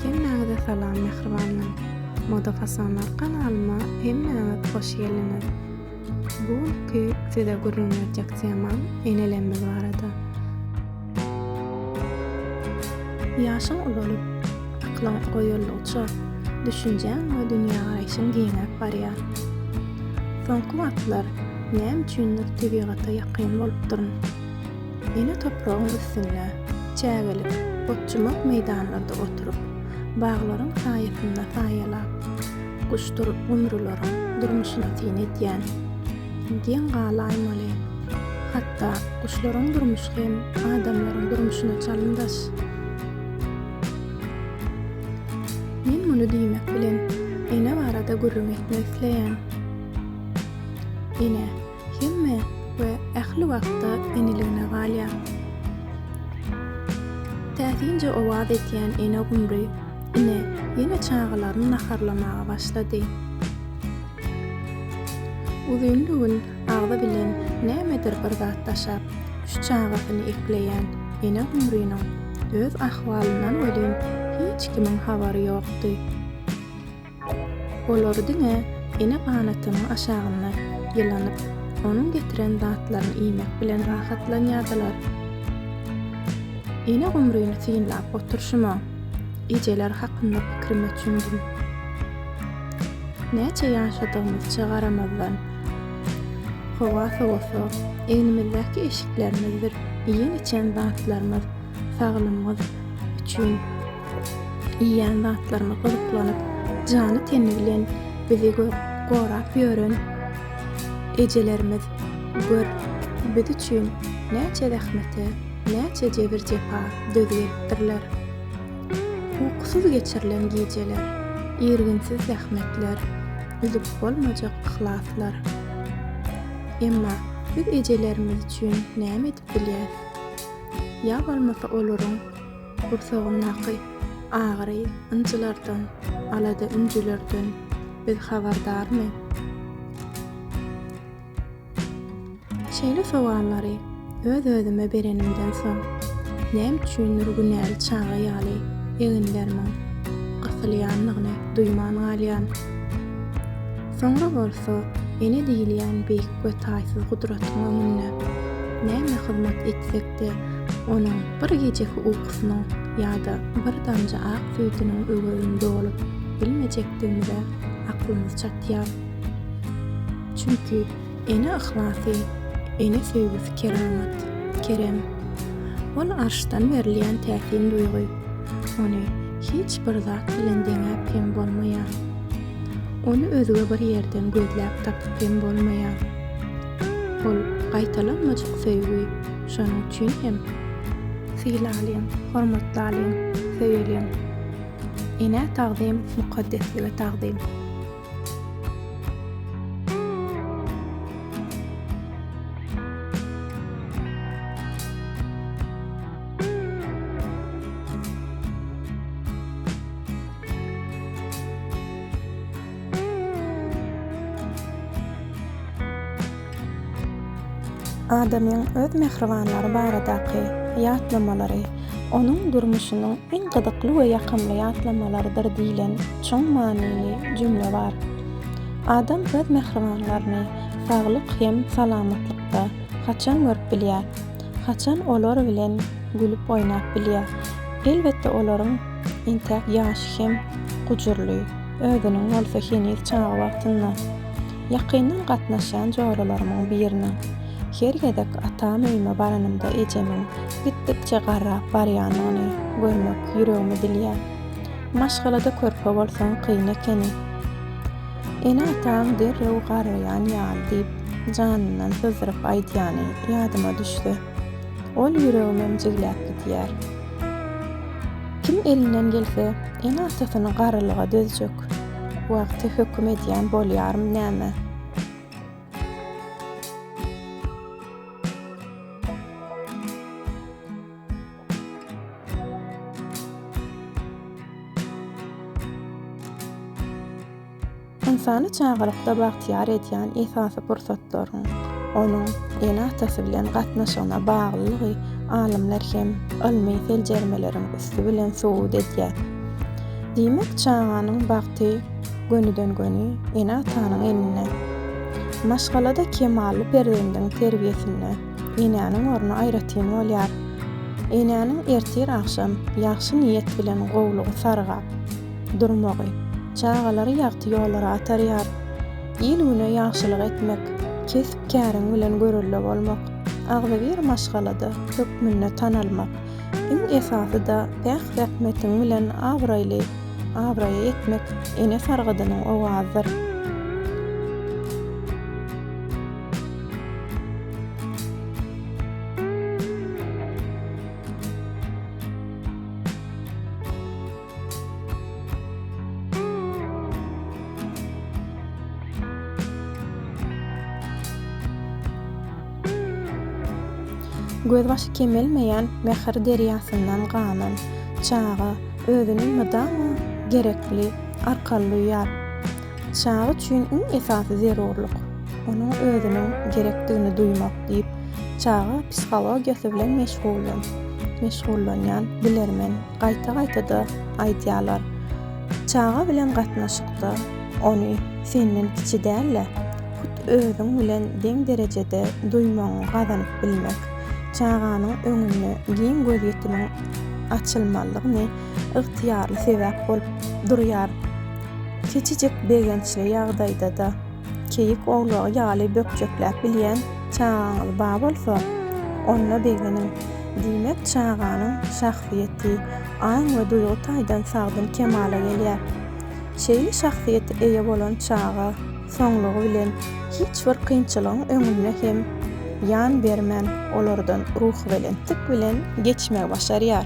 Hemmäňize salam mähribanlar! Moda Fasonlar kanalyma hemmäňiz hoş geldiňiz! Bu günki size gürrüň berjek temam enelerimiz barada. Ýaşyň ulalyp, aklyň oýuldygyça, düşünjäň we dünýägaraýşyň giňäp barýar. Soňky wagtlar näme üçindir tebigata ýakyn bolupdyryn. Ene topragyň üstünde çägelik otjumak meýdanlarda oturyp, baglaryň saýasynda saýalap, guşdur-gumrularyň durmuşyna syn edýän geň galaýmaly. Hatda guşlaryň durmuşy hem adamlaryň durmuşyna çalymdaş. Men muny diýmek bilen ene barada gürrüň etmek isleýän. Ene. Hemme we ähli wagtda eniligine galýar. Täsinje owaz edýän ene gumry ine ýene çagalaryny naharlamaga başlady. Uzynly-gün agzy bilen nämedir bir zat daşap, üç çagasyny ekleýän ene gumrynyň öz ahwalyndan welin hiç kimiň habary ýokdy. Olar diňe ene ganatynyň aşagynda ýylanyp, onuň getiren zatlaryny iýmek bilen rahatlanýardylar. Ene gumryny synlap oturşyma, ejeler hakynda pikirime çümdüm. Näçe ýaşadygymyzça garamazdan, howa sowasa, egnimizdäki eşiklerimizdir iýen-içen zatlarymyz saglymyz üçin, Iýýän zatlaryma gyzyklanyp, jany-teni bilen bizi gorap ýören ejelerimiz, gör, biz üçin näçe zähmete, näçe jebir-jepa dözgelipdirler. Ukusyz geçirilen gijeler, irginsiz zähmetler, üzüp bolmajak yhlaslar. Emma biz ejelerimiz üçin näme edip bilýäs? Ýa bolmasa olaryň Gursagyndaky agyry, ynjylardan, alada-ünjülerden biz habardarmy? Şeýle sowallary öz-özüme berenimden soň, näme üçindir günäli çaga ýaly eginlerimiň gysylýandygyny duýman galýan. Soňra bolsa Ene diýilýän beýik we taýsyz gudratyň öňünde näme hyzmat etsek, Elbetde, onuň bir gijeki ukusynyň ýa-da bir damja ak süýdüniň öwezini dolup bilmejekdigimize aklymyz çatýar. Çünki ene yhlasy, ene söýgüsi keramat, kerem. Ol arşdan berilýän täsin duýgy. Ony hiç bir zat bilen deňäp hem bolmaýar. Ony özge bir ýerden gözläp tapyp hem bolmaýar. Ol gaýtalanmajak söýgi, şonuň üçin hem sylalyň, hormatlalyň, söýeliň. Enä tagzym, mukaddeslige tagzym. Adamyň öz mähribanlary baradaky ýatlamalary onuň durmuşynyň iň gyzykly we ýakymly ýatlamalarydyr diýlen çuň manyly jümle bar. Adam öz mähribanlaryny saglyk hem salamatlykda haçan görüp bilýär? Haçan olar bilen gülüp-oýnap bilýär? Elbetde olaryň entäk ýaşy hem gujurly. Özüniň bolsa heniz çaga wagtynda ýakyndan gatnaşýan joralarymyň biriniň, Her gezek atam öýüme baranymda ejemiň gitdikçe garrap barýanyny görmek ýüregimi dilýär. Maşgalada körpe bolsaň kyn ekeni. Ene-ataň derrew garraýan ýaly diýip, janyndan syzdyryp aýdýany ýadyma düşse. Ol ýüregimem jigläp gidýär. Kim elinden gelse, ene-atasyny garrylyga dözjek wagty höküm edýän bolýarmy näme? Ynsany çagalykda bagtyýar edýän esasy pursatlaryň onuň ene-atasy bilen gatnaşygyna baglylygy alymlar hem ylmy seljermeleriň üsti bilen subut edýär. Diýmek, çaganyň bagty gönüden-göni ene-atanyň elinde. Maşgalada kemally perzendiň terbiýesinde enäniň orny aýratyn bolýar. Enäniň ertir-agşam ýagşy niýet bilen gowlugy sargap, durmagy, çagalary ýagty ýollara atarýar. Il-güne ýagşylyk etmek, kesp-käriň bilen görelde bolmak, agzybir maşgalada hökmünde tanalmak, iň esasy-da päk zähmetiň bilen abraýly abraýa ýetmek ene sargydynyň owazydyr. Gözbaşy kemelmeýän mähir derýasyndan ganan çaga özüni mydama gerekli arkaly duýýar. Çaga üçin iň esasy zerurlyk, onuň özüniň gerekdigini duýmak diýip, çaga psihologiýasy bilen meşgullanýan bilermen Gaýta-gaýta-da aýdýarlar, Çaga bilen gatnaşykda ony senden kiçi däl-de, hut özüň bilen deň derejede duýmagyňy gazanyp bilmek, çaganyň öňünde giň gözýetimiň açylmalygyny ygtyýarly sebäp bolup durýar. Kiçijek begençli ýagdaýda-da Keýik owlagy ýaly bökjekläp bilýän çagaňyz bar bolsa, onda begeniň. Diýmek, çaganyň şahsyýeti aň we duýgy taýdan sagdyn kemala gelýär. Şeýle şahsyýete eýe bolan çaga soňlugy bilen hiç bir kynçylygyň öňünde hem ýan bermän, olardan ruhubelentlik bilen geçmegi başarýar.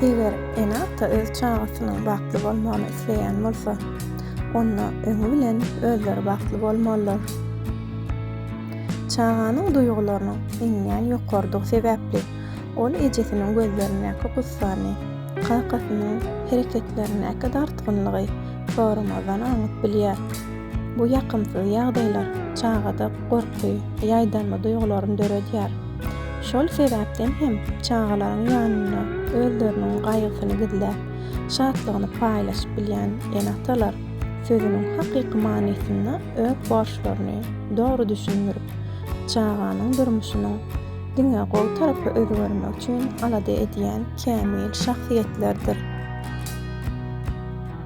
Eger ene-ata öz çagasynyň bagtly bolmagyny isleýän bolsa, onda öňi bilen özleri bagtly bolmalylar. Çaganyň duýgularynyň iňňän ýokarydygy sebäpli, ol ejesiniň gözlerindäki gussany, kakasynyň hereketlerindäki dartgynlygy soramazdan aňyp bilýär. Bu ýakymsyz ýagdaýlar çagada gorky, ýaýdanma duýgularyny döredýär. Şol sebäpden hem çagalaryň ýanynda özleriniň gaýgysyny gizläp, şatlygyny paýlaşyp bilýän ene-atalar sözüniň hakyky manysynda öz borçlaryny dogry düşündirip, çaganyň durmuşynyň diňe gowy tarapa özgermegi üçin alada edýän kämil şahsyýetlerdir.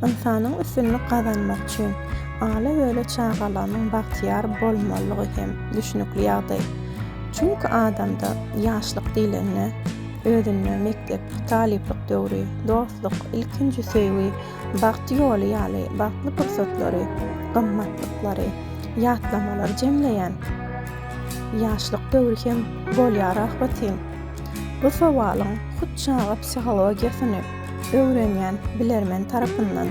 Ynsanyň üstünlik gazanmak üçin, ala-böle çagalarynyň bagtyýar bolmalydygy hem düşnükli ýagdaý. Çünki adamda ýaşlyk diýlende, özünde mekdep, talyplyk döwri, dostluk, ilkinji söýgi, Bagt ýoly ýaly bagtly pursatlary, gymmatlyklary, ýatlamalary jemleýän Ýaşlyk döwri hem bolýar ahbetin? Bu sowalyň hut çaga psihologiýasyny öwrenýän bilermen tarapyndan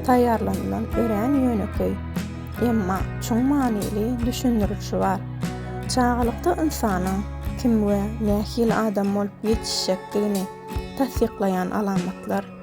taýýarlanylan örän ýönekeý, emma çuň manyly düşündirilişi bar. Çagalykda ynsanyň kim we nähili adam bolup ýetişjekdigini tassyklaýan alamatlar.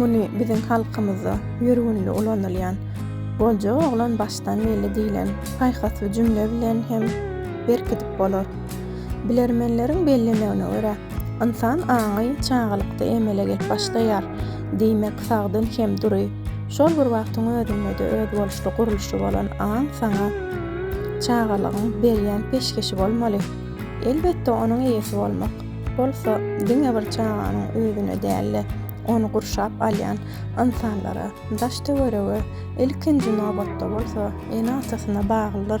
Muny biziň halkymyzda ýör günli ulanylýan Bolja oglan başdan belli diýlen paýhasly jümle bilen hem berkidip bolar. Bilermenleriň bellemegine görä, Ynsan aňy çagalykda emele gelip başlaýar. Diýmek, sagdyn hem dury, şol bir wagtyň özünde-de özboluşly gurluşy bolan aň saňa çagalygyň berýän peşgeşi bolmaly. Elbetde, onuň eýesi bolmak bolsa diňe bir çaganyň özüne däl-de, ony gurşap alýan ynsanlara, daş-töwerege, ilkinji nobatda bolsa ene-atasyna baglydyr.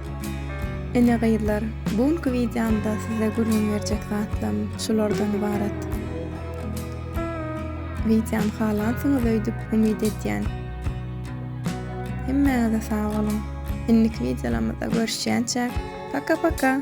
Ine gyzlar, bu günki wideomda size gürrüň berjek zatlarym şulardan ybarat. Wideom halansyňyz öýdüp umyt edýän. Hemmäňize sag boluň. Indiki wideolarymyzda görüşýänçäk, paka paka!